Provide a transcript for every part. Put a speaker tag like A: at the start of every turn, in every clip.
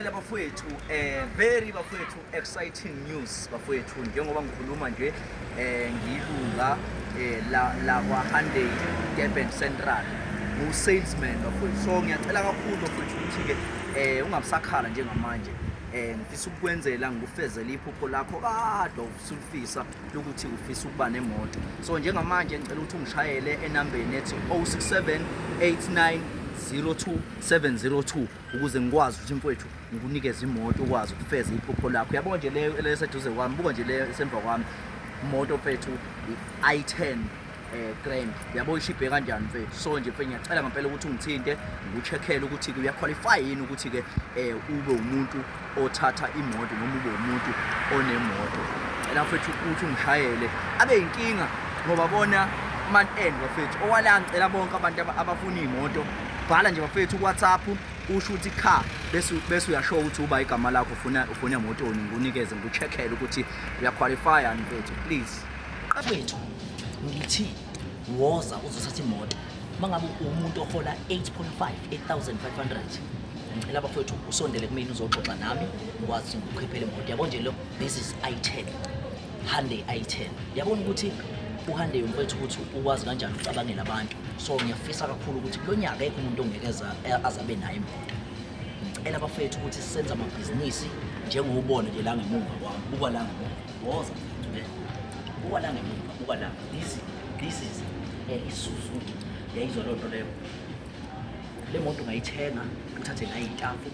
A: Ngiyabingelela bafowethu eh very bafowethu exciting news bafowethu njengoba ngikhuluma nje eh ngilunga eh la la kwa Hyundai Durban Central ngu salesman bafowethu so ngiyacela kakhulu bafowethu ukuthi ke eh ungabusakhala njengamanje eh ngifisa ukukwenzela ngikufezele iphupho lakho kade usulifisa lokuthi ufisa ukuba nemoto so njengamanje ngicela ukuthi ungishayele enambeni ethi 0678902702 ukuze ngikwazi ukuthi mfowethu ngikunikeze imoto ukwazi ukufeza iphupho lakho yabona nje leyo eleseduze kwami buka nje leyo esemva kwami imoto mfethu i-i10 eh grand yabo ishibhe kanjani mfethu so nje mfethu ngiyacela ngempela ukuthi ungithinte ngikucheckele ukuthi kuya qualify yini ukuthi ke eh ube umuntu othatha imoto noma ube umuntu onemoto cela mfethu ukuthi ungishayele abe yinkinga ngoba bona man end bafethu owala ngicela bonke abantu abafuna iy'moto bhala nje bafethu kuwhatsapp usho ukuthi cha bese bese uyasho ukuthi uba igama lakho ufuna ufuna emotoni ngikunikeze ngikucheckele ukuthi uyaqualifya mfethu please qafethu
B: ngithi woza uzothatha imoto uma ngabe uwumuntu ohola 8.5 8500 ngicela bafowethu usondele kumina uzoxoxa nami ngikwazi ukukhiphela imoto yabo nje lo this is i10 Hyundai i10 yabona ukuthi uHande mfethu ukuthi ukwazi kanjani ukucabangela abantu so ngiyafisa kakhulu ukuthi kulo nyaka ekho umuntu ongeke azabe naye imoto ngicela bafethu ukuthi senze amabhizinisi njengoubona nje la ngemuva kwami buka la ngemuva Woza. Buka la ngemuva, buka la. This this is eh, iSuzuki. Yayizwa loo nto leyo. Le moto ngayithenga, ngithathe ngayo itafu,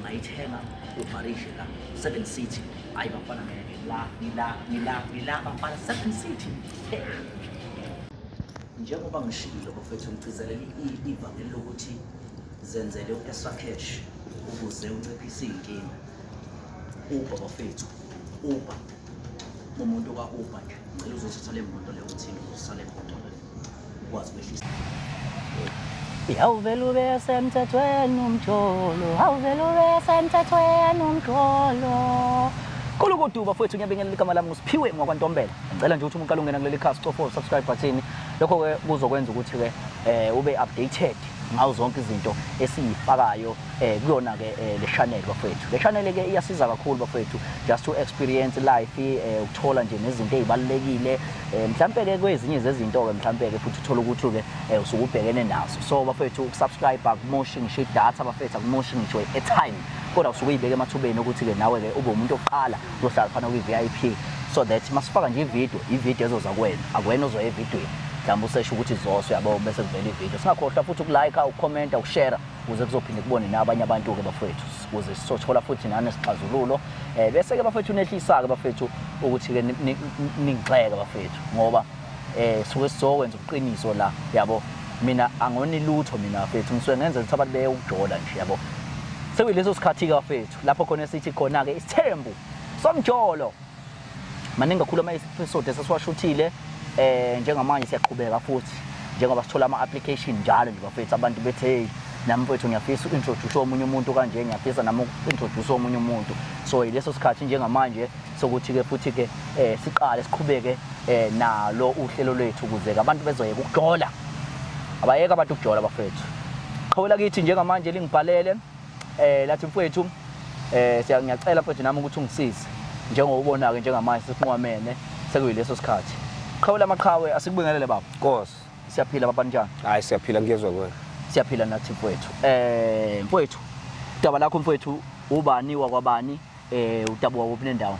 B: ngayithenga uvarishe la Seven City. Hayi bafana ngeke la, ngila, ngila, ngila bafana Seven City. Eh. Njengoba ngishilo bafethu ngigcizelela i- ivangeli lokuthi zenzele u-extra cash ukuze unciphise iy'nkinga. Uber bafethu, Uber. Umuntu ka Uber nje, ngicela uzothatha le moto leyo uthini uzosala emoto leyo. Ukwazi
C: ukwehlisa. Yawuvele ube semthethweni umjolo, awuvele ube semthethweni umjolo. Kolo kodwa bafowethu ngiyabingelela igama lami nguSiphiwe ngwakwantombela. Ngicela nje ukuthi umuntu alungena kuleli khasi cofa subscribe button. Lokho ke kuzokwenza ukuthi ke eh ube updated ngazo zonke izinto esiyifakayo eh kuyona ke eh, le channel bafethu le channel ke iyasiza kakhulu bafethu just to experience life eh, ukuthola nje nezinto ezibalekile eh, mhlambe ke kwezinye zezinto ke mhlambe ke futhi uthola ukuthi ke eh, usukubhekene nazo so bafethu ukusubscribe akumoshi ngisho idatha bafethu akumoshi ngisho airtime kodwa usuke uyibeke emathubeni ukuthi ke nawe ke ube umuntu oqala uzohlala phana kwi VIP so that masifaka nje ivideo ivideo ezoza kuwena akuwena ozoya evidweni mhlawumbe usesho ukuthi zoswe yabo bese kuvela ivideo singakhohlwa futhi ukulike ukukhomenta ukushare kuze kuzophinde kubone nabanye abantu-ke bafowethu kuze sizothola futhi nani sixazululo um eh, bese-ke bafowethu nehlisa-ke bafowethu ukuthi-ke ningixeke bafowethu ngoba um suke sizokwenza ubuqiniso la yabo mina angoni lutho mina bafethu ngisuke ngenza ukuthi abantu beye ukujola nje yabo sekuyileso sikhathi-ke bafethu lapho khona sithi khona-ke isithembu somjolo maningi kakhulu ama-episode esesiwashuthile um njengamanje siyaqhubeka futhi njengoba sithola ama-application njalo nje bafethu abantu bethi hey nami mfethu ngiyafisa uku-introduce omunye umuntu kanje ngiyafisa nami uku-introduce omunye umuntu so yileso sikhathi njengamanje sokuthi-ke futhi-ke um siqale siqhubeke um nalo uhlelo lwethu ukuze-ke abantu bezoyeka ukujola abayeke abantu ukujola bafethu qhawela kithi njengamanje lingibhalele eh lathi mfowethu eh siya ngiyacela mfowethu nami ukuthi ungisize njengoba ubona ke njengamanje sesinqwamene sekuyileso sikhathi qhawula amaqhawe asikubingelele baba Nkosi. siyaphila
D: baba
C: njani Hayi siyaphila ngiyezwa
D: kuwena. siyaphila nathi
C: mfowethu eh mfowethu udaba lakho mfowethu ubani wakwabani eh udabuka kuphi nendawo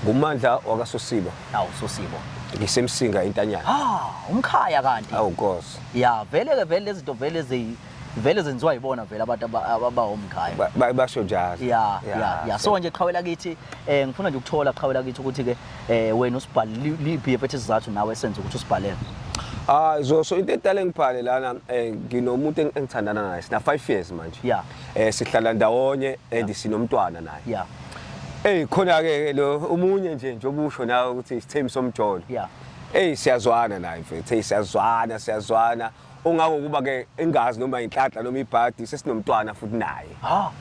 C: Ngumandla
D: wakasosiba. awu sosibo
C: Ngisemsinga
D: entanyana. ah umkhaya kanti
C: Awu Nkosi. ya
D: vele ke vele
C: lezinto vele ezi vele zenziwa yibona vele abantu abahomkhaya basho njalo
D: ya ya ya so
C: nje qhawela kithi eh ngifuna nje ukuthola qhawela kithi ukuthi ke eh wena usibhale liphi yefethe isizathu nawe senze ukuthi usibhalele Ah so
D: so into edala ngibhale lana eh nginomuntu engithandana naye sina 5 years manje yeah eh sihlala
C: ndawonye
D: and sinomntwana naye yeah
C: Ey khona
D: ke lo umunye nje nje obusho nawe ukuthi isithembiso somjolo yeah Ey
C: siyazwana
D: naye mfethu hey siyazwana siyazwana ongako kuba ke engazi noma inhlanhla noma ibhadi sesinomntwana futhi naye ha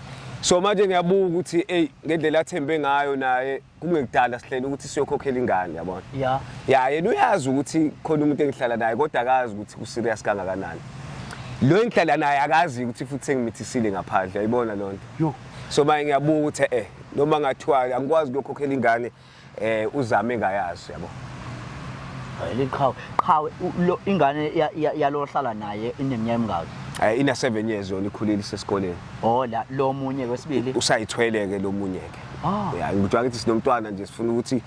D: so manje ngiyabuka ukuthi hey ngendlela athembe ngayo naye kungekudala sihlele ukuthi siyokhokhela ingane yabona ya ya yena uyazi ukuthi khona umuntu engihlala naye kodwa akazi ukuthi ku serious kangakanani lo engihlala naye akazi ukuthi futhi sengimithisile ngaphandle ayibona lonto yo so manje ngiyabuka ukuthi eh noma ngathiwa angikwazi ukukhokhela ingane eh uzame ngayazi yabo liqhawe
C: qhawe ingane yalohlala naye ineminyaka emingaki eh ina 7 years yona
D: ikhulile sesikoleni oh la lo
C: munye kwesibili usayithwele ke lo
D: munye ke ah. ya ngikuthiwa ngithi sinomntwana nje sifuna ukuthi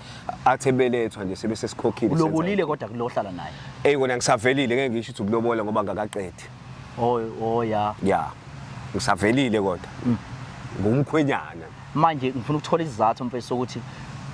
D: athe belethwa nje sebe sesikhokhile ulobolile kodwa kulohlala
C: naye hey kona ngisavelile ngeke
D: ngisho ukuthi ukulobola ngoba ngakaqedi Oh oh ya.
C: Yeah.
D: Ngisavelile kodwa. Mm. Ngumkhwenyana. Manje
C: ngifuna ukuthola isizathu mfethu sokuthi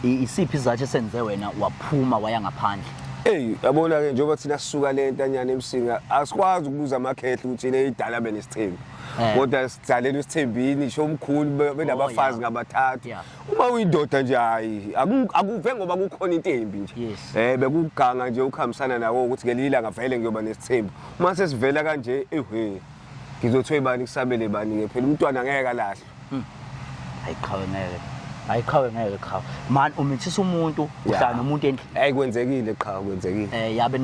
C: isiphi isizathu esenze wena waphuma waya ngaphandle. Hey, yabona ke
D: njengoba thina sisuka le ntanyana emsinga asikwazi ukubuza amakhehla ukuthi le idala bene sithembu. Eh. Kodwa sidlalela isithembini sho umkhulu benabafazi oh, ngabathathu. Uma uyindoda nje hayi akuve ngoba kukhona into embi nje. Eh bekuganga nje ukuhambisana nawo ukuthi ngelila ngavele ngiyoba nesithembu. uma sesivela kanje ehwe ngizothiwa ibani kusabele bani ke phela umntwana ngeke kalahlwa hmm. hayi qhawe ngeke
C: hayi qhawe ngeke qhawe man umithisa umuntu uhlala nomuntu endlini hayi kwenzekile qhawe
D: kwenzekile eh
C: yabe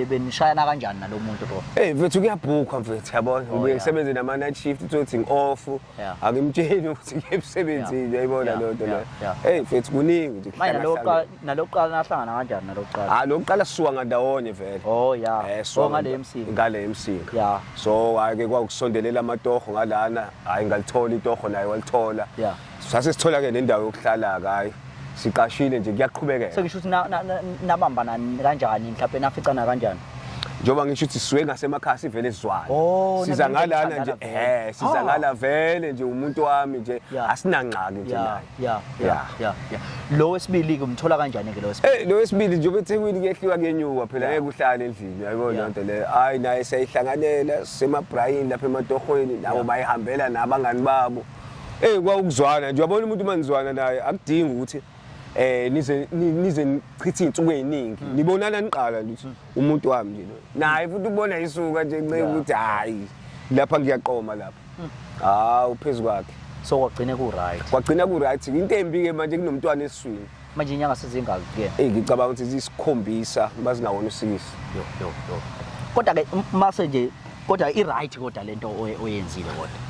C: benishayana kanjani nalomuntu bro hey mfethu kuyabhukwa
D: mfethu yabona oh, ngibuye ngisebenze nama night shift uthi ngi off Yeah. angimtsheni ukuthi ngiye emsebenzini yayibona Yeah, leyo nto yeah, leyo yeah. eyi mfethu kuningi nje manje kuhlala nalokuqala hlangene.
C: nalokuqala nahlangana kanjani nalokuqala Ah, lokuqala sisuka ngandawonye
D: vele oh ya Eh, sisuka oh ngale nganda-
C: emsini ngale emsika
D: ya so hhayi-ke kwakusondelela amatoho ngalana hhayi ngalithola itoho naye walithola ya sase sithola-ke nendawo yokuhlala-ke hhayi siqashile nje kuyaqhubekeka sengisho ukuthi
C: nabambana kanjani mhlawumbe naficana kanjani njengoba ngisho ukuthi
D: siwe ngasemakhaya sivele sizwane oh, siza ngalana nje eh siza ah. ngala vele nje umuntu wami nje asinangxaki nje naye yeah yeah yeah
C: lo wesibili ke umthola kanjani ke lo wesibili eh lo wesibili nje ubethekwini
D: kuyehliwa kuyenyuka phela ngeke uhlale endlini yabo le nto le hayi naye seyihlanganela semabrayini lapha ematohweni nabo bayihambela nabangani babo Ey kwawukuzwana nje uyabona umuntu manizwana naye akudingi ukuthi eh nize nize nichithe insuku eziningi hmm. nibonana niqala nje hmm. umuntu wami nje naye futhi ubona isuka nje nceke ukuthi hayi lapha ngiyaqoma lapha hmm. hawu phezulu kwakhe so kwagcina ku
C: right kwagcina ku right into embi ke manje
D: kunomntwana eswini manje inyanga sezingaki
C: ke eyi ngicabanga ukuthi
D: zisikhombisa uma zinawona usikisi yo yo yo
C: kodwa ke mase nje kodwa i-right kodwa lento oyenzile kodwa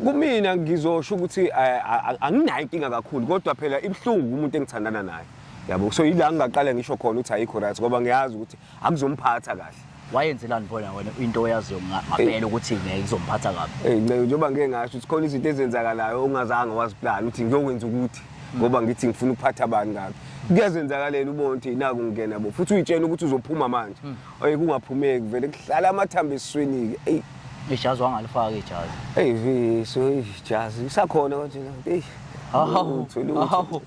C: kumina
D: ngizosho ukuthi eh, anginayo inkinga kakhulu kodwa phela ibuhlungu kumuntu engithandana naye yabo so yila ngingaqala ngisho khona ukuthi ayikho right ngoba ngiyazi ukuthi akuzomphatha kahle wayenzelani phona
C: wena into oyaziyo ngapela ukuthi ngeke izomphatha kabi hey nceke njengoba ngeke ngasho ukuthi
D: khona izinto ezenzakalayo ongazange waziplan ukuthi ngiyokwenza ukuthi ngoba ngithi ngifuna ukuphatha abantu kabi kuyazenzakalela ubona ukuthi naku ngingena bo futhi uyitshela ukuthi uzophuma manje hmm. oye kungaphumeki vele kuhlala amathambo esiswini-ke eyi ijazi wangalifaka
C: ijazi eyi viso ijazi
D: isakhona konje eyi hawu hawu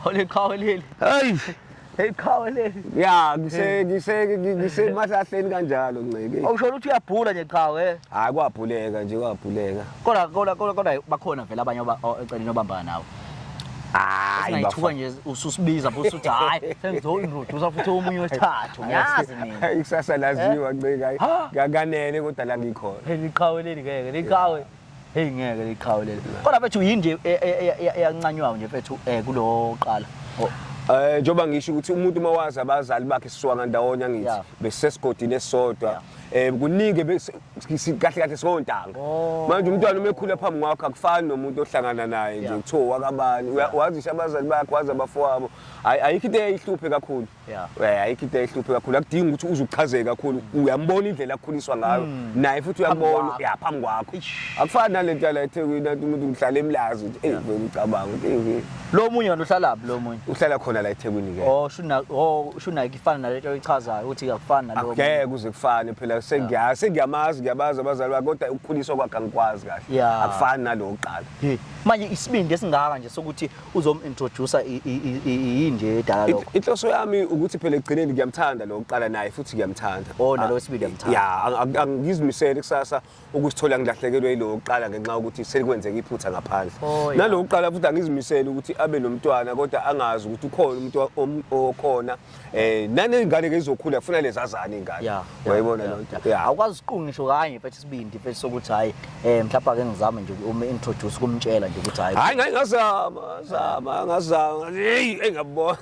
D: oliqhawe
C: leli hayi Hey qhawe leli. Ya ngise
D: ngise ngise mahlahleni kanjalo nceke. Awushona ukuthi uyabhula nje
C: qhawe. Eh? Hayi kwabhuleka
D: nje kwabhuleka. Kodwa kodwa kodwa
C: bakhona vele abanye oceleni obambana nawo. hayi bayithuka nje ususibiza futhi uthi hayi sengizoyintroduce futhi omunye wesithathu ngiyazi mina ikusasa laziwa
D: eh? ncika kanganele kodwa la ngikhona liqhawe leli ngeke
C: liqhawe Hey ngeke liqhawe leli. Kodwa bethu yini nje e- e- e- e- eyancanywayo nje bethu eh kulo qala. Oh, Eh njoba
D: ngisho ukuthi umuntu mawazi abazali bakhe siswanga ndawonye ngithi Yeah. besesigodini esodwa. Eh kuningi bese- si- kahle kahle sontanga. Oh. Manje umntwana uma ekhula phambi kwakho akufani nomuntu ohlangana naye nje Yeah. kuthiwa wakabani. Uya- Wazisha abazali bakhe wazi abafowabo. Ayi- Ayikho into eyihluphe kakhulu. Yeah. Eh, ayikho into ehluphe kakhulu akudingi ukuthi uze uchazeke kakhulu uyambona indlela akhuliswa ngayo mm. naye futhi uyambona ya phambi kwakho akufani nalento yala eThekwini anti umuntu uhlala emlazi ukuthi hey ngicabanga ukuthi lo munye wena uhlala
C: laphi lo munye uhlala khona la eThekwini
D: ke oh shuna oh shuna ikifana nalento
C: oyichazayo ukuthi akufani nalo ngeke kuze kufane
D: phela sengiya sengiyamazi ngiyabaza abazali bakhe kodwa ukukhuliswa kwakhe angikwazi kahle akufani nalokuqala manje isibindi
C: esingaka nje sokuthi uzomintroducer yini nje edala lokho inhloso yami ukuthi
D: phela ekugcineni ngiyamthanda lo uqala naye futhi ngiyamthanda oh nalo ah, wesibili ngiyamthanda
C: ya angizimisele
D: kusasa ukuzithola ngilahlekelwe yilo uqala ngenxa yokuthi selikwenzeka iphutha ngaphandle oh, nalo uqala futhi angizimisele ukuthi abe nomntwana kodwa angazi ukuthi ukhona umuntu okhona eh nanezingane ke izokhula kufuna lezazane ingane uyayibona lonto awukwazi uqunga ngisho
C: kanye mfethu isibindi mfethu sokuthi hayi eh mhlawumbe ake ngizame nje uma introduce kumtshela nje ukuthi hayi hayi ngeke ngazama
D: zama ngazama hey engabona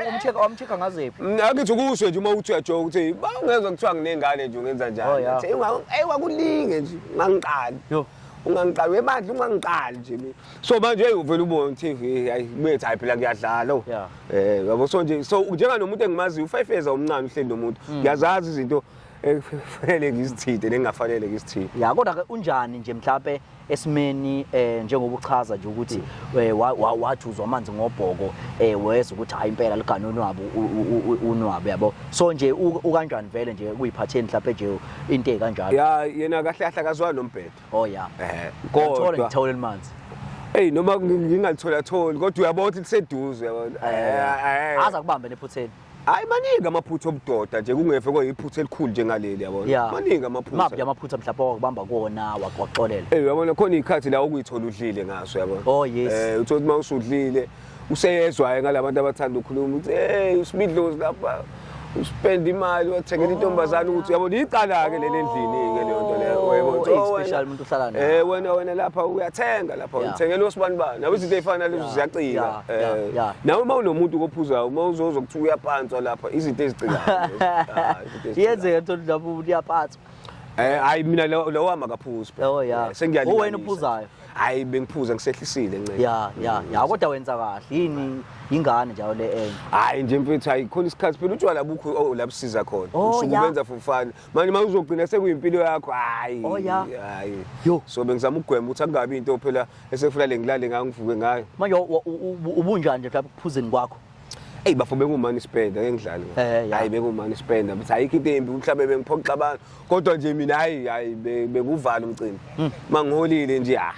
C: umcheka umcheka ngazephi mm, akithi kusho nje uma
D: uthi uyajoka ukuthi bangezwa kuthiwa nginengane nje ungenza njani oh, hey wakulinge nje ngangiqali yo ungangiqali webandla ungangiqali nje mina so manje hey uvela ubone ukuthi hey, hayi bethi hayi phela kuyadlala oh. Yeah. eh yabo so nje so njenga nomuntu engimaziyo u5 years omncane uhleli nomuntu Mm. ngiyazazi izinto ekufanele ngizithinte nengafanele ngizithinte ya kodwa ke unjani
C: nje mhlawumbe esimeni eh njengoba uchaza nje ukuthi Mm. eh, wa- wa- wathi uzwa amanzi ngobhoko eh wezwa ukuthi hayi impela ligane unwabu u- u- u- unwabu yabo so nje u- ukanjani vele nje kuyiphatheni mhlawumbe nje into ekanjalo ya yena kahle kahle
D: akazwani nombhedo
C: oh ya eh kodwa
D: ngithola elimanzi
C: Hey noma
D: ngingathola tholi kodwa uyabona ukuthi liseduze yabona. Eh, eh, eh. Aza kubambe nephutheni.
C: Hayi maningi
D: amaphutha obudoda nje kungefe koyiphutha elikhulu njengaleli yabona. Maningi amaphutha. Maphi amaphutha mhlawumbe
C: wakubamba kuwona wakuxolela. Eh uyabona khona ikhathi
D: la ukuyithola udlile ngaso yabona. Oh yes. Eh uthi
C: uma usudlile
D: useyezwayo ngalabantu abathanda ukukhuluma ukuthi hey usibidlozi lapha uspenda imali wathengela intombazane ukuthi yabo licala ke leli endlini ke leyo nto leyo oh, yebo so oh, special umuntu uhlala naye
C: eh wena wena lapha
D: uyathenga lapha uthengela osibani bani nawe izinto ezifana lezo ziyacika eh nawe uma unomuntu kophuzayo uma uzozo kuthiwa uyapantswa lapha izinto ezicikayo ah,
C: yenzeka nto lapho uyapantswa eh hayi
D: mina lawa makaphuzi oh yeah eh, sengiyalila
C: wena uphuzayo hayi bengiphuza
D: ngisehlisile ncela ya ya ya kodwa wenza
C: kahle yini ingane njalo le enye hayi nje mfethu hayi
D: khona isikhathi phela utshwala bukho oh, la busiza khona oh, usuke ubenza for fun manje uma uzogcina sekuyimpilo yakho hayi oh, hayi yo so bengizama ukugwema ukuthi angabi into phela esefuna lengilale ngayo ngivuke ngayo manje
C: ubunjani nje phela kuphuzeni kwakho Ey bafo
D: bengumani spend ake ngidlale. Eh, hayi bengumani spend but ayikho into embi mhlawumbe bengiphoxa abantu kodwa nje mina hayi hayi bekuvala umcimbi. Hmm. Mangiholile nje ah.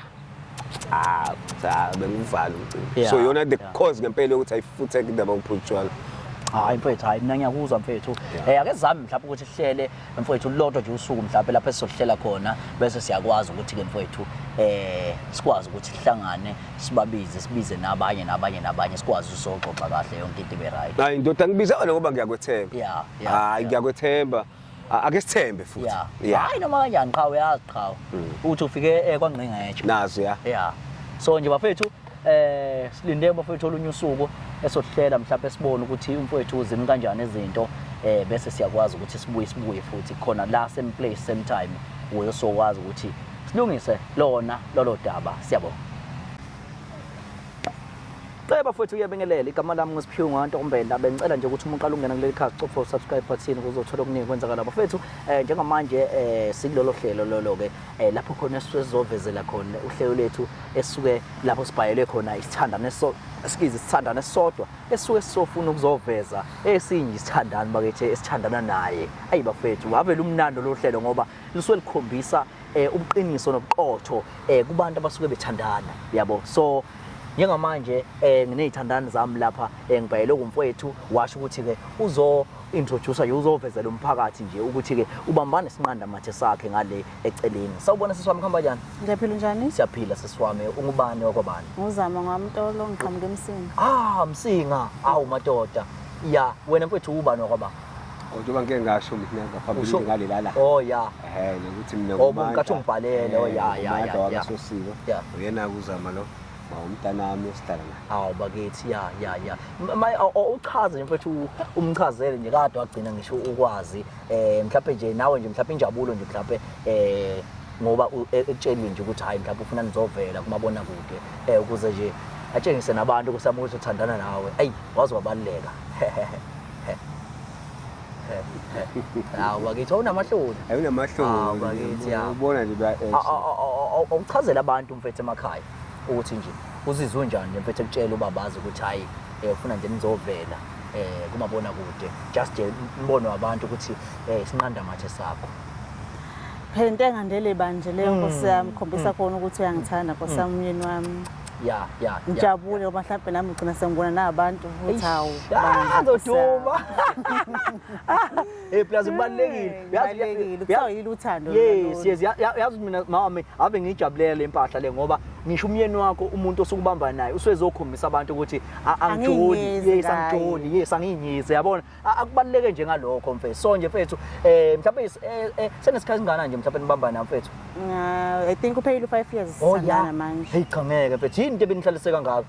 D: Ah, cha bengivala umcimbi. So yona the cause ngempela ukuthi ayifuthe indaba yokuphutshwala. hayi mfethu
C: hayi mina ngiyakuzwa mfethu um ake zami mhlawumbe ukuthi sihlele mfowethu lodwa nje usuku mhlawumbe lapho esizohlela khona bese siyakwazi ukuthi-ke mfowethu eh sikwazi ukuthi sihlangane sibabize sibize nabanye nabanye nabanye sikwazi usoxoxa kahle yonke into ibe right hayi ndoda ngibiza wena ngoba
D: ngiyakwethemba yeah hayi ngiyakwethemba ake sithembe futhi yeah hayi noma kanjani
C: qhawe yazi qhawe hmm. uthi ufike eh kwangqingetshe nazi yeah yeah
D: so
C: nje bafethu eh silinde bafowethu olunye usuku esohlela mhlawumbe sibone ukuthi umfowethu uzimi kanjani izinto eh bese siyakwazi ukuthi sibuye sibuye futhi khona la same place same time uyo sokwazi ukuthi silungise lona lolo daba siyabonga Ceba futhi uyabingelela igama lami ngisiphiwe nganto kumbenda bengicela nje ukuthi umuntu alungena kuleli khasi copha usubscribe button ukuzothola okuningi kwenzakala bafethu eh njengamanje eh sikulolo hlelo lolo ke eh, lapho khona sizovezela khona uhlelo lethu esuke lapho sibhayele khona isithandane so sikize isithandane sodwa esuke sisofuna ukuzoveza esinye isithandane bakithi esithandana naye ayi bafethu wavela umnando lo hlelo ngoba lisuke likhombisa eh, ubuqiniso nobuqotho eh, kubantu abasuke bethandana yabo so njengamanje eh nginezithandani zami lapha engibhayele kumfowethu washo ukuthi ke uzo introducer nje uzovezela umphakathi nje ukuthi ke ubambane sinqanda mathe sakhe ngale eceleni sawubona sisiwami khambanyana ngiyaphila njani
E: siyaphila sisiwami
C: ungubani wakwabani nguzama ngwamtolo
E: ngiqhamuke emsinga ah msinga
C: awu madoda ya wena mfethu ubani wakwaba kodwa ngeke
D: ngasho mina ngaphambili ngale lala oh ya eh ukuthi mina ngubani oh nkathi ungibhalele
C: oh ya ya ya
D: uyena kuzama lo umntanami osidala naye awu bakithi ya
C: ya ya uchaze mfethu umchazele nje kade wagcina ngisho ukwazi eh mhlawumbe nje nawe nje mhlawumbe injabulo nje mhlawumbe eh ngoba e, ekutshelwe nje ukuthi hayi mhlawumbe ufuna nizovela kumabona kude eh ukuze nje atshengise nabantu ukuthi amuthi uthandana nawe ayi wazi wabaluleka Hawu bakithi awunamahloni. Hayi unamahloni. Hawu
D: bakithi ya. Ubona
C: nje ba A- a-
D: a- a- a-
C: Awuchazela abantu mfethu emakhaya ukuthi nje uzizwe unjani nje mfethu ekutshela ubabazi ukuthi hayi eh, ufuna nje nizovela eh kumabona kude just nje umbono wabantu ukuthi eh isinqanda mathe sakho.
E: Phela into engandele banje leyo nkosi yami khombisa khona ukuthi uyangithanda nkosi yami umyeni wami. ya ya
C: ngijabule ngoba mhlawumbe
E: nami ngigcina sengibona nabantu ukuthi hawu ngizoduma
C: eh plus kubalekile uyazi kuthiwa yilo uthando
E: yes yes
C: yazi mina mama ave ngijabulela le mpahla le ngoba ngisho umyeni wakho umuntu osukubamba naye uswezokhombisa abantu ukuthi angijoli yes angijoli yes anginyize yabona akubaluleke nje ngalokho mfethu so nje mfethu eh mhlawumbe eh, eh, senesikhathi singana nje mhlawumbe nibambana mfethu uh, i think
E: uphelile u5
C: years
E: oh,
C: sangana
E: manje
C: hey cha
E: ngeke
C: mfethu yini
E: into
C: ebenihlaliseka
E: ngakho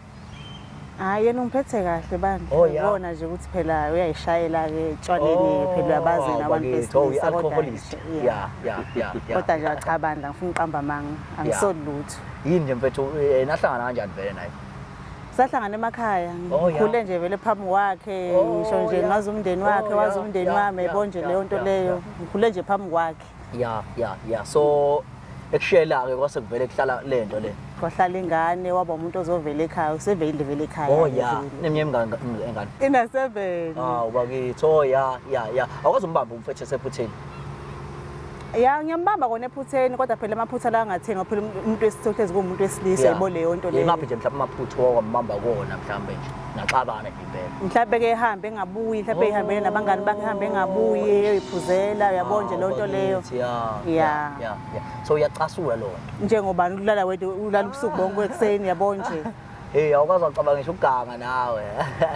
E: hayi yena ungiphethe kahle bandla oh, ubona nje ukuthi
B: phela
E: uyayishayela ke tshwaleni oh, phela uyabazi nabantu besilisa kodwa yeah yeah yeah
B: kodwa nje
E: cha bandla ngifuna uqamba manga angisoli lutho yini nje mfethu
B: eh, nahlangana kanjani vele naye sahlangana
E: emakhaya oh, ngikhule nje vele
B: phambi kwakhe
E: oh, ngisho nje ngazi umndeni oh, wakhe wazi umndeni wami yabo nje leyo nto leyo ngikhule nje phambi kwakhe ya ya ya
B: so ekushela-ke kwase kuvele kuhlala le nto le kwahlala ingane
E: waba umuntu ozovela ekhaya useveyile vele ekhaya oh ya neminyaka
B: engane ina-seven
E: awu bakithi oh ya
B: ya ya awukwazi umbamba umfethu esephutheni
E: ya ngiyambamba kona ephutheni kodwa phela amaphutha la angathenga phela umuntu wesithohlezi kuwumuntu wesilisa yebo leyo nto leyo ngaphi nje mhlawumbe amaphutha
B: wawambamba kona mhlawumbe nje naxabana nje impela mhlawumbe ke ehambe
E: engabuyi mhlawumbe ehambele oh. nabangani bakhe ehambe engabuyi eyoyiphuzela uyabo nje loo nto leyo ya
B: so uyacasula loo nto njengobani ulala wedwa
E: ulala ubusuku bonke ekuseni yabo nje heyi awukwazi wacabanga
B: ngisho uganga nawe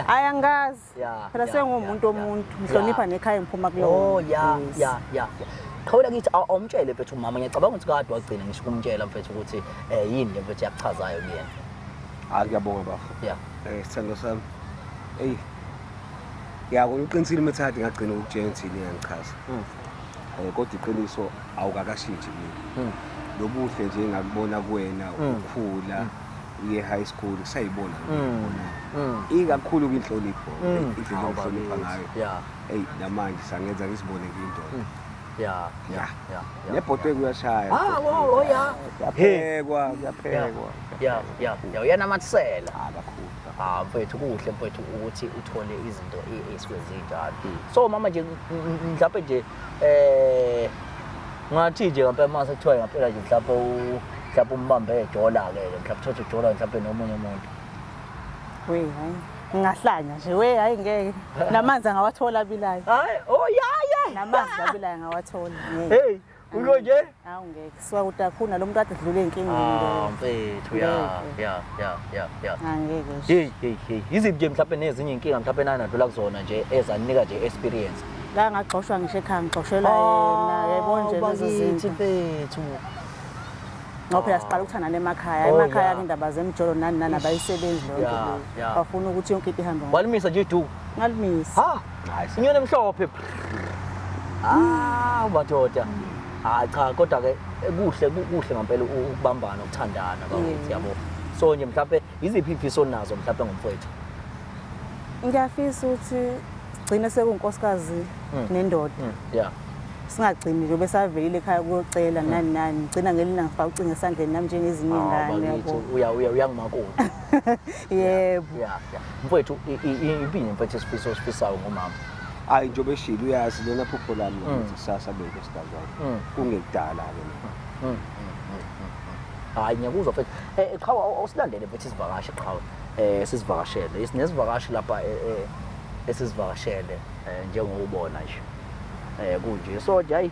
B: hayi angazi
E: Yeah, phela yeah, sengumuntu
B: yeah,
E: omuntu yeah. ngihlonipha nekhaya ngiphuma kulo oh yeah
B: yes. yeah yeah qhawula kithi awumtshele mfethu umama ngiyacabanga ukuthi kade wagcina ngisho ukumtshela mfethu ukuthi eh yini le mfethu yakuchazayo kuyena hayi ah, ngiyabonga bafo
D: yeah eh sithando
B: sami
D: hey yako uqinisile methadi ngagcina ukutshela ukuthi yini yangichaza hmm. eh kodwa iqiniso awukakashintshi mina hmm. lobuhle nje ngakubona kuwena hmm. ukukhula ye-high school kusayibona ikakhulu kwinhlonipho indlela okuhlonipha ngayo eyi
B: namanje sangenza
D: ngisibone kuyindoda ya
B: ya ya
D: nebhotwe kuyashaya ah wo oh, ya
B: yaphekwa
D: yaphekwa ya
B: ya ya uyanamathisela ah, kakhulu ah
D: mfethu kuhle
B: mfethu ukuthi uthole izinto esuke zinjalo hmm. so mama nje mhlawumbe nje Eh ngathi nje ngempela mase kuthiwa ngempela nje mhlawumbe mhlawumbe umbambe edola ke mhlawumbe uthathe idola mhlawumbe nomunye umuntu. We
E: hayi ngingahlanya nje we hayi ngeke namanzi angawathola abilayo. Hayi oh yeah
B: yeah.
E: Namanzi
B: abilayo ngawathola. Hey ulo nje Hawu ngeke siwa
E: ukuthi akhona lo muntu athi dlule inkinga ah mfethu ya ya
B: ya ya ya angeke
E: ah, hey hey hey
B: iziphi ke mhlawumbe nezinye inkinga mhlawumbe nanadlula kuzona nje ezanika nje experience la ngagxoshwa
E: ngisho ekhaya ngigxoshelwa ah, yena yebo nje lezo zinto mfethu ngoba phela siqala ukuthanda nemakhaya oh, emakhaya indaba zemjolo nani nani abayisebenzi leyo nto bafuna ukuthi
B: yonke into ihambe
E: walimisa nje du
B: ngalimisa
E: inyoni
B: emhlophe hawu madoda hayi cha kodwa ke kuhle kuhle ngempela ukubambana ukuthandana bakwethu yabo so nje mhlawumbe yiziphi imfiso onazo mhlawumbe ngomfowethu
E: ngiyafisa ukuthi gcine sekunkosikazi hmm. nendoda hmm. yeah
B: singagcini
E: nje besavelile ekhaya kuyocela hmm. nani nani ngigcina ngelina ngifaka ucinga esandleni nami njengezinye ingane yabo uya uya uyangimakoti yebo yeah yeah
B: mfowethu impini mfowethu esifiso osifisayo ngomama hayi njengoba eshilo
D: uyazi lona phupho lami mm. ukuthi kusasa beke sidazwana mm. kungekudala-ke mm,
B: hayi ngiyakuzwa mfethu eh, eh, qhawe awusilandele mfethu isivakashi qhawe um sizivakashele nesivakashi lapha eh, esizivakashele um njengokubona nje um kunje so nje hayi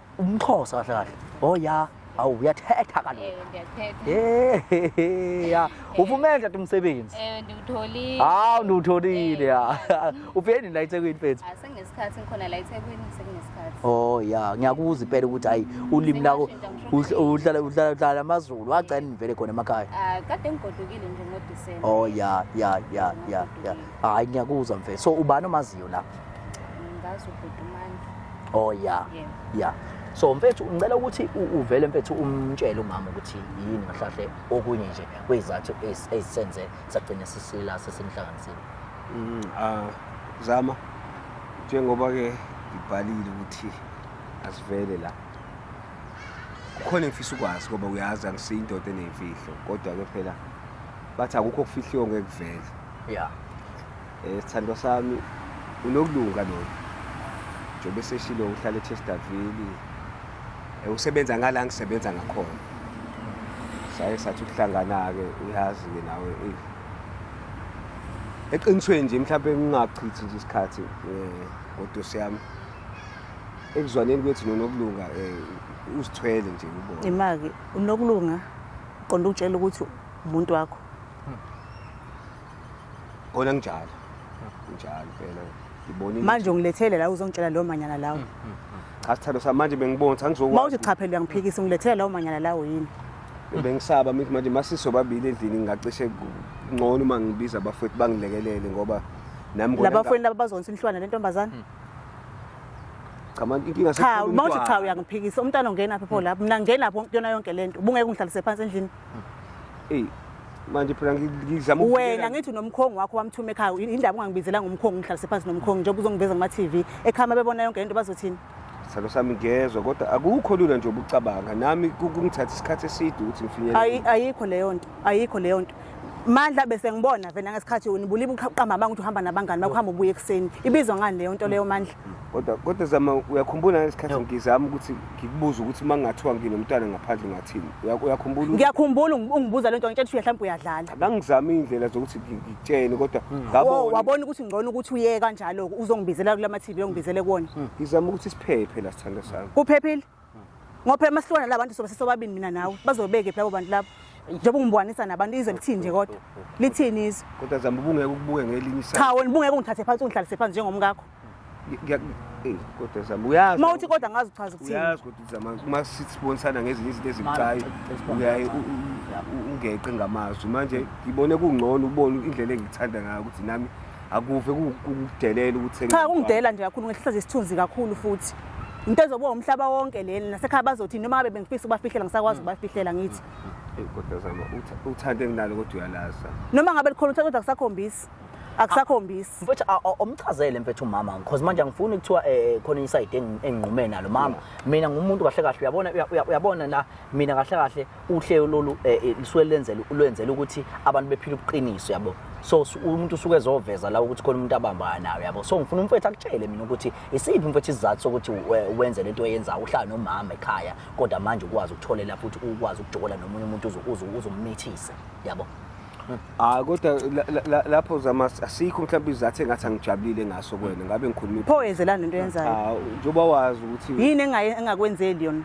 B: umxhosa kahle kahle oh ya awu uyathetha kaloku Eh, ndiyathetha Eh, he,
F: he, ya
B: uvume nje umsebenzi Eh, ndiwutholile
F: hawu ndiwutholile
B: ya ufike nini la ethekwini mfethu Ah, senginesikhathi ngikhona la
F: ethekwini senginesikhathi oh ya
B: ngiyakuza impela ukuthi hayi ulimi lakho uhl- uhlala uhlala uhlala amazulu wagcina nivele khona emakhaya Ah, kade ngigodukile
F: nje ngodisemba oh ya ya
B: ya ya ya hayi ngiyakuzwa mfethu so ubani omaziyo la ngazi
F: ubhuti umandla oh ya
B: yeah. ya so mfethu ngicela ukuthi uvele mfethu umtshele umama ukuthi yini ngahlahle okunye nje kwezathu ezisenze sagcina sisila sesimhlanganisile mm ah
D: zama njengoba ke ngibhalile ukuthi asivele la khona ngifisa ukwazi ngoba uyazi angisiyindoda enemfihlo kodwa ke phela bathi akukho okufihliwe ngekuvele yeah
B: Eh,
D: sithandwa sami unokulunga lona njengoba eseshilo uhlala echesterville Eh, usebenza ngala ngisebenza ngakhona saye sathi ukuhlangana-ke uyazi-ke nawe eyi eqinisweni nje mhlawumpe ngingachithi nje isikhathi um ngodosi yami ekuzwaneni kwethu nonokulunga um uzithwele nje ubona Imake unokulunga
E: uqonda ukutshela ukuthi umuntu wakho.
D: Kona njalo. Njalo phela. Ngibonile. Manje ungilethele la
E: uzongitshela lo manyana lawo. Hmm, hmm, hmm. Cha sithando
D: sami manje bengibona ukuthi angizokwazi. Mawuthi cha phela uyangiphikisa
E: ungilethele lawo manyana lawo yini? Bengisaba
D: mithi manje masiso babili endlini ngingacishe ngcono uma ngibiza abafowethu bangilekelele ngoba nami kona. Labafowethu laba bazonisa
E: inhlwana lentombazana.
D: Cha manje inkinga sekukhona umntwana. Cha mawuthi cha
E: uyangiphikisa umntwana ongena phi pho lapho mina ngena pho yona yonke lento. Ubungeke ungihlalise phansi endlini. Ey,
D: manje phela ngi- ngizama wena ukuvikela- ngithi unomkhongi
E: wakho wamthuma ekhaya Yini- yindaba ungangibizelanga umkhongi ngihlalise phansi nomkhongi njengoba uzongiveza kuma-tv ekhaya uma bebona yonke lento bazothini sithando sami
D: ngezwa kodwa akukho lula nje ubucabanga nami ku- kungithatha isikhathi eside ukuthi ngifinyelele Ayi- ayikho leyo nto ayikho
E: leyo nto mandla bese ngibona vena ngesikhathi unibulile uqamba amanga ukuthi uhamba nabangani bakho hamba ubuye ekuseni ibizwa ngani leyo nto leyo mandla kodwa kodwa zama
D: uyakhumbula ngesikhathi ngizama ukuthi ngikubuze ukuthi uma ngingathiwa nginomntwana ngaphandle ngathini uyakhumbula ngiyakhumbula ungibuza
E: lento ngitshela ukuthi mhlawumbe uyadlala ngangizama indlela
D: zokuthi ngikutshene kodwa hmm. ngabona wabona ukuthi ngcono ukuthi
E: uye kanjalo uzongibizela kulama TV ongibizele kuona hmm. ngizama ukuthi siphephe
D: la sithanda sami kuphephile
E: ngoba phela masihlukana la bantu sobe sesobabini mina nawe bazobeke phi labo bantu labo njengoba ungibwanisa nabantu izwe lithini nje kodwa lithini izwe kodwa zama ubungeke ukubuke
D: ngelinye isayidi cha wena ubungeke ungithathe phansi
E: ungihlalise phansi njengomkakho
D: kodwa zama uyazi uma uthi kodwa ngazi uchaza
E: ukuthini uyazi kodwa zama uma
D: sibonisana ngezinye izinto ezibucayi uyaye ungeqe ngamazwi manje ngibone kungcono ubone indlela engikuthanda ngayo ukuthi nami akuve kukudelela ukuthi cha kungidela nje kakhulu
E: ngehlisa nje isithunzi kakhulu futhi into ezobuka umhlaba wonke leli nasekhaya bazothi noma ngabe bengifisa ukubafihlela ngisakwazi mm. ukubafihlela ngithi mm. kodwa zama
D: uthanda enginalo kodwa uyalaza noma ngabe likhona uthanda
E: kodwa kusakhombisi akusakhombisi ah, mfethu
C: omchazele mfethu umama because manje angifuni kuthiwa eh, eh, khona inside enginqume nalo mama mina ngumuntu kahle kahle uyabona uyabona la mina kahle kahle uhlelo lolu eh, eh, lisuke lenzela lwenzela ukuthi abantu bephile ubuqiniso yabo so umuntu usuke ezoveza la ukuthi khona umuntu abambana nayo yabo so ngifuna umfethu akutshele mina ukuthi isiphi umfethu isizathu sokuthi wenze lento oyenzayo uhlala nomama ekhaya kodwa manje ukwazi ukutholela futhi ukwazi ukujokola nomunye umuntu uzomithisa yabo hayi
D: kodwa la- la- la- lapho zama asikho mhlawumbe izathu engathi angijabulile ngaso kwena ngabe ngikhuluma pho yenzelani into yenzayo
E: Ah, njengoba wazi ukuthi
D: yini engaye- engakwenzeli
E: yona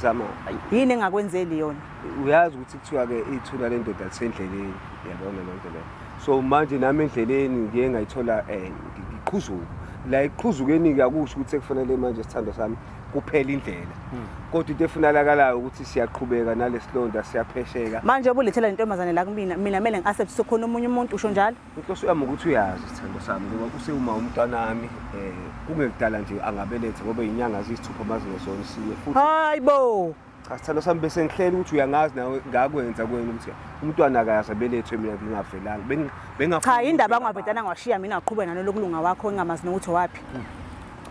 E: zama
D: ayi, yini
E: engakwenzeli yona uyazi ukuthi kuthiwa-ke
D: ithula lendoda lisendleleni yabona loo nto leyo so manje nami endleleni ngiye ngayithola um ngiqhuzuka la ekuqhuzukeni-ke akusho ukuthi sekufanele manje isithando sami kuphela indlela hmm. kodwa into efunalakalayo ukuthi siyaqhubeka nalesilonda siyaphesheka manje obulethela lentombazane
E: la kumina mina kumele ngiase busukhona omunye umuntu usho njalo inhloso yami ukuthi uyazi
D: isithando sami ngoba kusewuma umntwanami um kungekudala nje angabelethe ngoba inyanga ziyisithupha mazingezona isiwe futhi hayi bo
E: Cha sithando sami bese
D: ngihlele ukuthi uyangazi nawe ngakwenza kwena ukuthi umntwana akayazi abelethwe mina ngingavelanga. Bengi- bengafu- cha yini ndaba
E: angavedana ngiwashiya mina ngaqhubeka nanolokulunga wakho engingamazi nokuthi waphi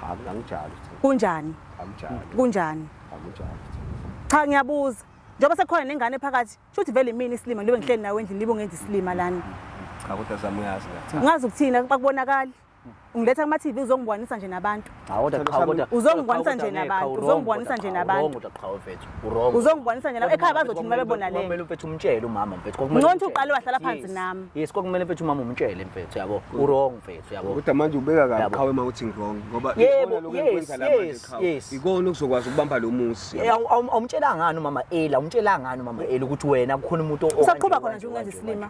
E: Cha mina
D: angijali sithando. kunjani
E: Angijali. kunjani Angijali. sithando. cha ngiyabuza njengoba sekukhona nengane phakathi shuthi vele imini isilima ngilobe ngihleli nawe endlini libe ungenza isilima lana Cha kodwa zami
D: uyazi ngathi. ungazi ukuthini bakubonakali
E: Ngiletha kuma TV uzongibonisa nje nabantu. Cha kodwa qhawe kodwa.
C: Uzongibonisa nje
E: nabantu. Uzongibonisa nje nabantu. Wrong kodwa qhawe mfethu. Wrong. Uzongibonisa nje nabantu. Ekhaya bazothi mina bebona le. Kumele mfethu umtshele umama
C: mfethu. Kumele Nconto uqale wahlala phansi
E: nami. Yes kokumele mfethu umama
C: umtshele mfethu yabo. Wrong mfethu yabo. Kodwa manje ubeka kabi
D: qhawe uma uthi wrong ngoba ikona lokho ekwenza la
C: manje
D: qhawe. Ikona okuzokwazi ukubamba lo musi. Eh, awumtshela ngani
C: umama Ela, umtshela ngani umama Ela ukuthi wena kukhona umuntu o Usaqhuba khona nje ungenza
E: isilima.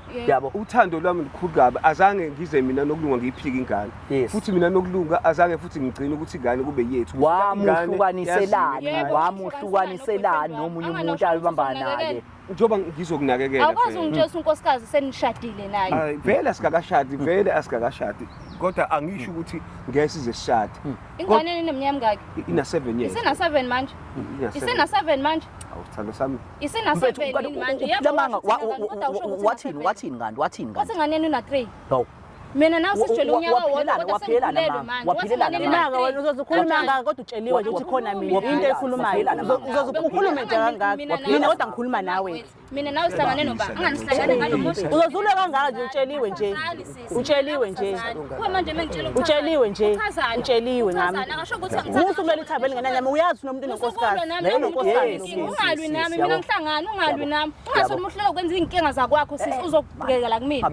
D: Yebo. yabo uthando lwami lukhulu kabi azange ngize mina nokulunga ngiyiphike ingane Yes.
A: futhi mina nokulunga
D: azange futhi ngigcine ukuthi ingane kube yethu Ingane wamuhlukaniselani yaziwa. Yebo,
C: wamuhlukaniselani nomunye umuntu Angalokhisa ayobambana naye ukunakekela. njengoba ngizokunakekela
D: awukwazi phela. ungitshesa
F: unkosikazi senishadile naye Ay, vele asikakashadi
D: vele asikakashadi kodwa angisho ukuthi ngeke size sishade ingane eneminyaka
F: emingaki ina-seven years
D: isena-seven manje
F: Ina-seven. isena-seven manje Awu sithando sami.
D: Isinasebeni
F: manje yabanga wathini
C: wathini kanti wathini kanti. Wathi nganeni una 3.
F: No. Mina
C: nawe sisitshela
F: unyaka wodwa kodwa sengiphelelwe manje. Waphelelana
E: imanga wena uzozikhuluma ngaka kodwa utsheliwe nje ukuthi khona mina into ekhulumayo. Uzozikhuluma nje kangaka. Mina kodwa ngikhuluma nawe. mina nawe sihlangane
F: noba anganihlangane ngalo muntu uzozulwa kangaka nje
E: utsheliwe nje utsheliwe nje kuba manje mengitshela
F: utsheliwe nje
E: utsheliwe ngami musa
F: kumele ithambe lingenanyama
E: uyazi nomuntu nonkosikazi naye nonkosikazi
F: ungalwi nami mina ngihlangana ungalwi nami ungasho umuhlela ukwenza izinkinga zakwakho sisi eh. uzokubhekela la kumina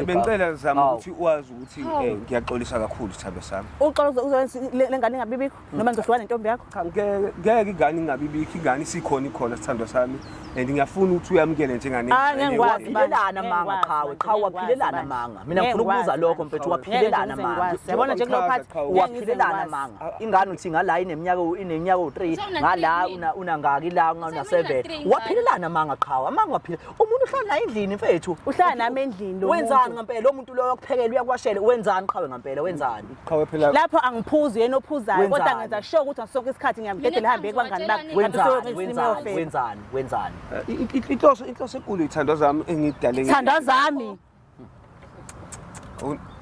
F: bengicela
D: zama ukuthi uwazi ukuthi eh, ngiyaxolisa kakhulu sithabe sami uxolo uzowenza
E: lengane ingabibikho noma ngizohlukana nentombi yakho cha ngeke ngeke ingane
D: ingabibikho ingane isikhona ikhona sithandwa sami and ngiyafuna ukuthi uyamukele njengane Ah, ngeke ngikwazi. waphilelana Ngeke
C: amanga ngikwazi, qhawe ngeke qhawe ngikwazi, waphilelana bani. amanga mina Ngeke ngifuna ukubuza ngikwazi, lokho bani. mfethu Ngeke waphilelana ngize amanga ngikwazi. Yabona nje kulo phathi, Qhawe.
E: ngeke ngize waphilelana ngikwazi.
C: amanga ingane uthi ngala ineminyaka u- ineminyaka u3 Sewuna ngala three una unangaki la una Sewuna 7 three ngane. waphilelana amanga qhawe amanga waphila umuntu uhlala naye endlini mfethu uhlala nami endlini
E: lo wenzani muntu. ngampela lo muntu loyo
C: okuphekela uyakwashela wenzani qhawe ngampela wenzani qhawe phela lapho
D: angiphuzi yena
E: ophuzayo kodwa ngenza sure ukuthi ngasonke isikhathi ngiyamdedela lihambe kwangani bakhe wenzani wenzani wenzani
C: wenzani eh, inhloso
D: inhloso enkulu ithandwa zami engidale ithandwa zami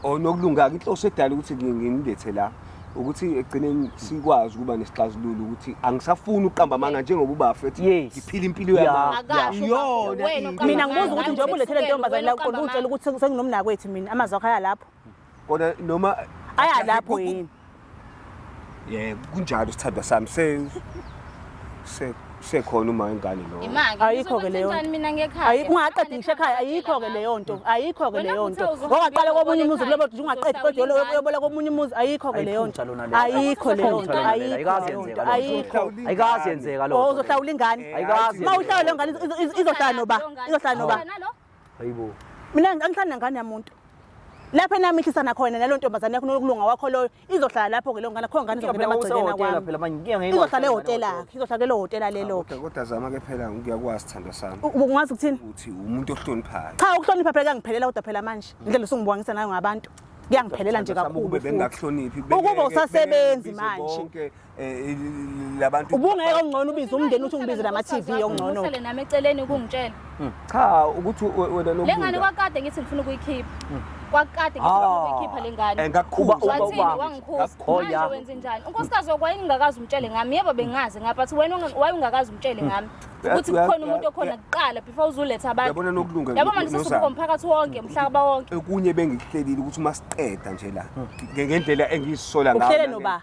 D: onokulunga inhloso edala ukuthi ngimlethe la ukuthi egcineni sikwazi ukuba nesixazululo ukuthi angisafuni uqamba amanga njengoba ubafethi ngiphila impilo yamangiyona
F: mina ngibuza ukuthi njengoba
E: ulethele ntombazane la uqonda utshela ukuthi senginomnakwethu mina amazi wakho aya lapho kodwa noma
D: aya lapho
E: yini yebo kunjalo
D: sithandwa sami se se sekhona uma ingane lo ayikho ke leyo
E: ayikho
F: ungaqedi ngisho ekhaya
E: ayikho ke leyo nto ayikho ke leyo nto ongaqala komunye umuzi kulobo ukuthi ungaqedi kodwa yolo uyobola komunye umuzi ayikho ke leyo nto ayikho leyo nto ayikho ayikho ayikazi
C: yenzeka lo uzohlawula ingane
E: ayikazi uma uhlawula
C: ingane
E: izohlala noba izohlala noba
C: hayibo mina
E: angihlali nengane yamuntu lapho enamihlisana khona nalo ntombazane yakho nokulunga wakho loyo izohlala lapho-ke leyo ngane khona ngane izongena emagcekeni kwami izohlala
C: ehotelakhe
E: izohlala kelo hotela leloke kodwa zama-ke phela
D: ngiyakwazi sithando sami ungazi ukuthini ukuthi
E: umuntu
D: ohloniphayo cha ukuhlonipha phela kuyangiphelela
E: kodwa phela manje indlela usungibukangisa nayo ngabantu kuyangiphelela nje kakhulu
D: ukuba usasebenzi
E: manje Eh,
D: labantu ubungeke ongcono
E: ubize umndeni uthi ungibize nama TV ongcono usele nami eceleni
F: ukungitshela hmm. cha
D: ukuthi wena lo lengane kwakade ngithi
F: ngifuna ukuyikhipha hmm. kwakade ngithi ngifuna ah. ukuyikhipha lengane eh, ngakhuba wathini
D: wangikhuza
F: manje wenze njani unkosikazi wakho wayengingakazi umtshele ngami yebo bengazi ngapha athi wena wayengingakazi umtshele ngami hmm. ukuthi kukhona umuntu okhona kuqala before uzuletha abantu yabona nokulunga yabo manje
D: sesikubo umphakathi
F: wonke umhlaba wonke okunye bengikuhlelile
D: ukuthi uma siqeda nje la ngendlela engiyisola ngayo uhlele noba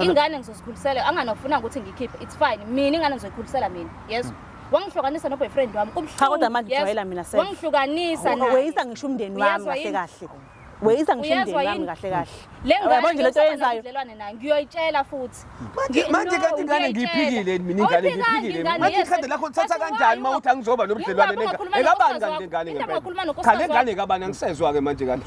F: ingane ngizozikhulisela anganofuna ukuthi ngikhiphe it's fine mina ingane ngizoyikhulisela mina yezwa wangihlukanisa noboyfriend wami cha kodwa manje ujwayela
E: mina sasa wangihlukanisa naye
F: weyisa ngisho umndeni wami
E: kahle kahle weyisa ngisho umndeni wami kahle kahle le ngane nje lento
F: yenzayo ubudlelwane
E: naye ngiyoyitshela
F: futhi manje manje kanti
D: ingane ngiyiphikile mina ingane ngiyiphikile manje ikhadi lakho lithatha kanjani mawuthi angizoba nobudlelwane nengane ekabani kanti lengane ngempela cha lengane ekabani angisezwa ke manje kanti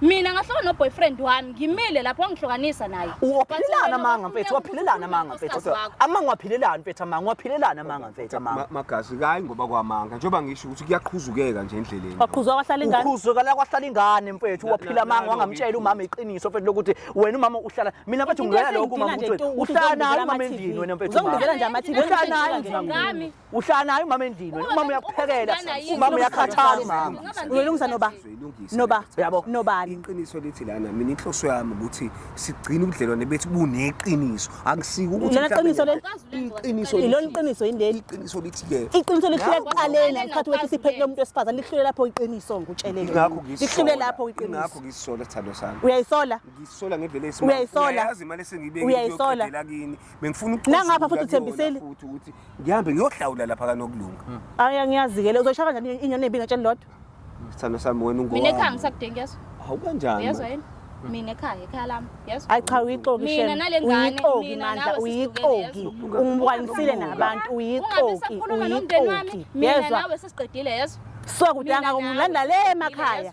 F: mina ngahloka noboyfriend wami ngimile lapho angihlokanisa naye uphilelana amanga
C: mfethu waphilelana amanga mfethu amanga waphilelana mfethu amanga waphilelana amanga mfethu amanga magazi kayi ngoba
D: kwamanga njengoba ngisho ukuthi kuyaqhuzukeka nje endleleni waqhuzwa kwahlala ingane
E: uqhuzwa la kwahlala ingane
C: mfethu waphila amanga wangamtshela umama iqiniso mfethu lokuthi wena umama uhlala mina mfethu ngiyala lokho umama ukuthi uhlala naye umama endini wena mfethu uzongibizela nje amathini uhlala
E: naye ngami
C: uhlala naye umama endlini
E: wena
C: umama uyakuphekela umama uyakhathala umama uyolungisa noba
D: noba yabo
E: nobani
A: iqiniso lithi
E: lana
D: mina inhloso yami ukuthi sigcine ubudlelwane bethu buneqiniso akusike ukuthi lona qiniso leli
E: iqiniso lona
D: iqiniso indeli
E: iqiniso lithi ke
D: iqiniso lihlule kuqaleni
E: ngikhathi wethi siphethele umuntu wesifazane lihlule lapho iqiniso ngikutshelele ngakho ngisola lihlule
D: lapho iqiniso
E: ngakho ngisola sithando
D: sami uyayisola ngisola
E: ngendlela esimama
D: uyayisola uyazi imali
E: esengibeke
D: uyayisola kini
E: bengifuna
D: ukucosha Nangapha futhi ukuyona uthembisile.
E: futhi ukuthi ngihambe
D: ngiyohlawula lapha kanokulunga Aya ngiyazikele
E: uzoyishaya kanjani inyoni ebi ngatsheni lodwa. sithando sami
D: wena mina ekhaya ungowami ngisakudingi yeso
F: hawu kanjani yezwa manje?
D: yini mina
F: ekhaya ekhaya lami yezwa Hayi cha uyixoki Mina shem.
E: nale ngane, Uyixoki mina
F: mandla nawe
E: uyiqoki.
F: sesihlukene,
E: Ungibwanisile
F: Ungabi
E: nabantu ungabi uyixoki usakhuluma nomndeni wami uyixoki.
F: mina Yezwa. nawe
E: sesiqedile yezwa
F: Suka kudanga Mina nawe,
E: ngilanda le sesiqedile, emakhaya. yezwa.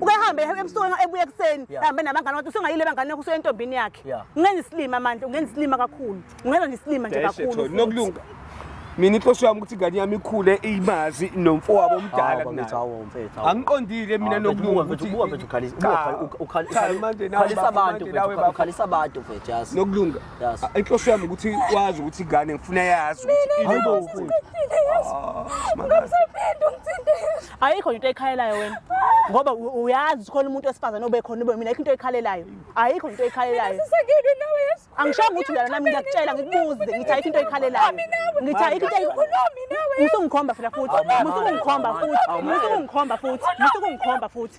E: ukehambe ebusuku ebuya ekuseni hambe nabangane wakhe usungayile bangane yakho usuye entombini yakhe ungenza isilima
A: manje
E: ungenza isilima kakhulu ungenza nje isilima nje kakhulu nokulunga
D: mina inhloso yami ukuthi ingane yami ikhule imazi nomfowabo omdala angiqondile mina nokulungakhalisa abantu
A: ukhalisa abantu mfethu yazi nokulunga
D: inhloso yami
A: ukuthi
D: wazi ukuthi ingane ngifuna yazi
A: ukuthi
E: ayikho into ekhalelayo wena ngoba uyazi khona umuntu wesifazane obekhona ube mina ayikho into ekhalelayo ayikho into ekhalelayo angishongo ukuthi uyala nami ngiyakutshela ngikubuze ngithi ayikho into ekhalelayo ngithi ayikho into musungikhomba futhi futhi musungikhomba futhi musungikhomba futhi musungikhomba futhi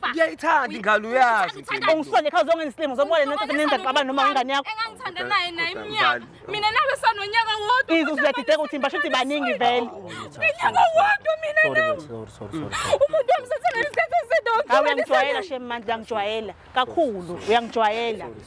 E: Fa. Ngiyayithanda Uyi-
D: ingalo Uyi- uyazi. uthanda- Mpilo. Ungisole khawuze
E: ongengisilimo zobona nento senenza xabana noma ingane yakho. engangithanda naye naye Kodwa
F: iminyaka Mbali. mina nawe sanonyaka wodwa Izwe siyadideka ukuthi basho
E: ukuthi baningi vele. unyaka
F: wodwa mina Sorry, nawe baby, sorry, sorry, sorry, sorry. umuntu wamsethela isikhathi eside Hawu uyangijwayela shem mandla
E: uyangijwayela kakhulu uyangijwayela.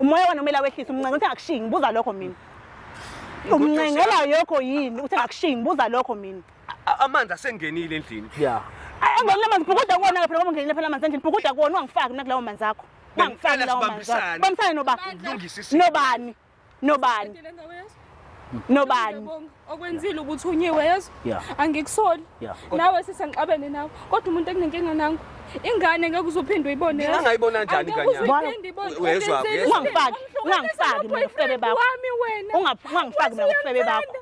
E: umoya wena umele awehlise umncenga uthi angakushiyi ngibuza lokho mina umncengela yokho yini uthi angakushiyi ngibuza lokho mina A- amanzi
D: asengenile endlini ya Ay, angenile
E: amanzi bhukuda kuwona ke phela ngoba ungenile phela amanzi endlini bhukuda kuwona ungangifaki nakulawo manzi akho ungangifaki Bengicela lawo manzi akho sibambisane. bambisane noba Lungisa isimo. nobani nobani nobani okwenzile ukuthi
F: unyiwe yezo angikusoli nawe sisengixabene nawe kodwa umuntu ekunenkinga nangu ingane ngeke uzophinde uyibone mina ngayibona kanjani
D: kanyani uyezwa ungangifaki
E: ungangifaki mina ufebe bakho
F: ungangifaki mina ufebe
E: bakho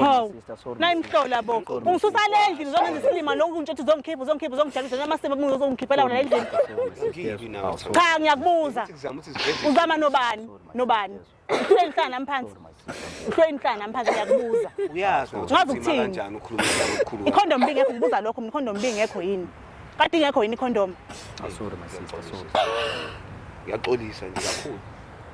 E: Hawu, nayimhlola
C: bo
E: ungisusa le ndlini uzongenza isilima lonke untshothi uzongikhipha uzongikhipha uzongidlalisa namasebe mungu uzongikhipha lawo la endlini cha ngiyakubuza uzama nobani nobani uhlweni hlala nami phansi uhlweni hlala nami phansi ngiyakubuza uyazi ukuthi Ngazi
D: ukuthini? kanjani
E: ukhuluma njani ukukhuluma
D: ikhondom bingekho ngibuza lokho
E: mina ikhondom bingekho yini kade ingekho yini ikhondom
D: ngiyaxolisa nje kakhulu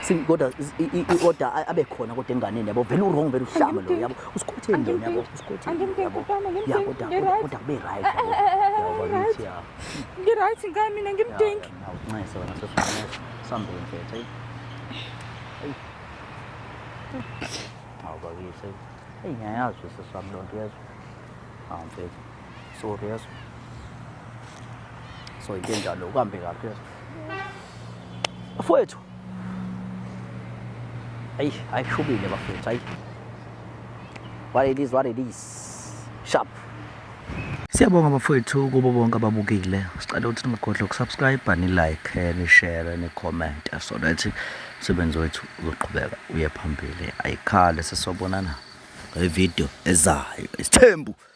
C: si kodwa i-order abe khona kodwa enganeni yabo vele u-wrong vele uhlame lo yabo usikhotheni lona yabo usikhotheni ya kodwa kodwa kube right ngi-right ngani
F: mina ngimdingi nginxese wena sesifanele
C: sambeni mfethu eyi hawu bakithi eyi ngiyayazi usesami loo nto uyezwa hawu mfethu Sorry yazi. So into enjalo uhambe kahle yazi. Afowethu. Ayi, ayishubile bafowethu, ayi. What it is, what it is. Sharp. Siyabonga bafowethu kubo bonke ababukile. Sicela ukuthi ningagodli ukusubscribe, ni like, eh, ni share, ni comment so that umsebenzi wethu uzoqhubeka uye phambili. Ayikhale sesobonana ngevideo ezayo. Isithembu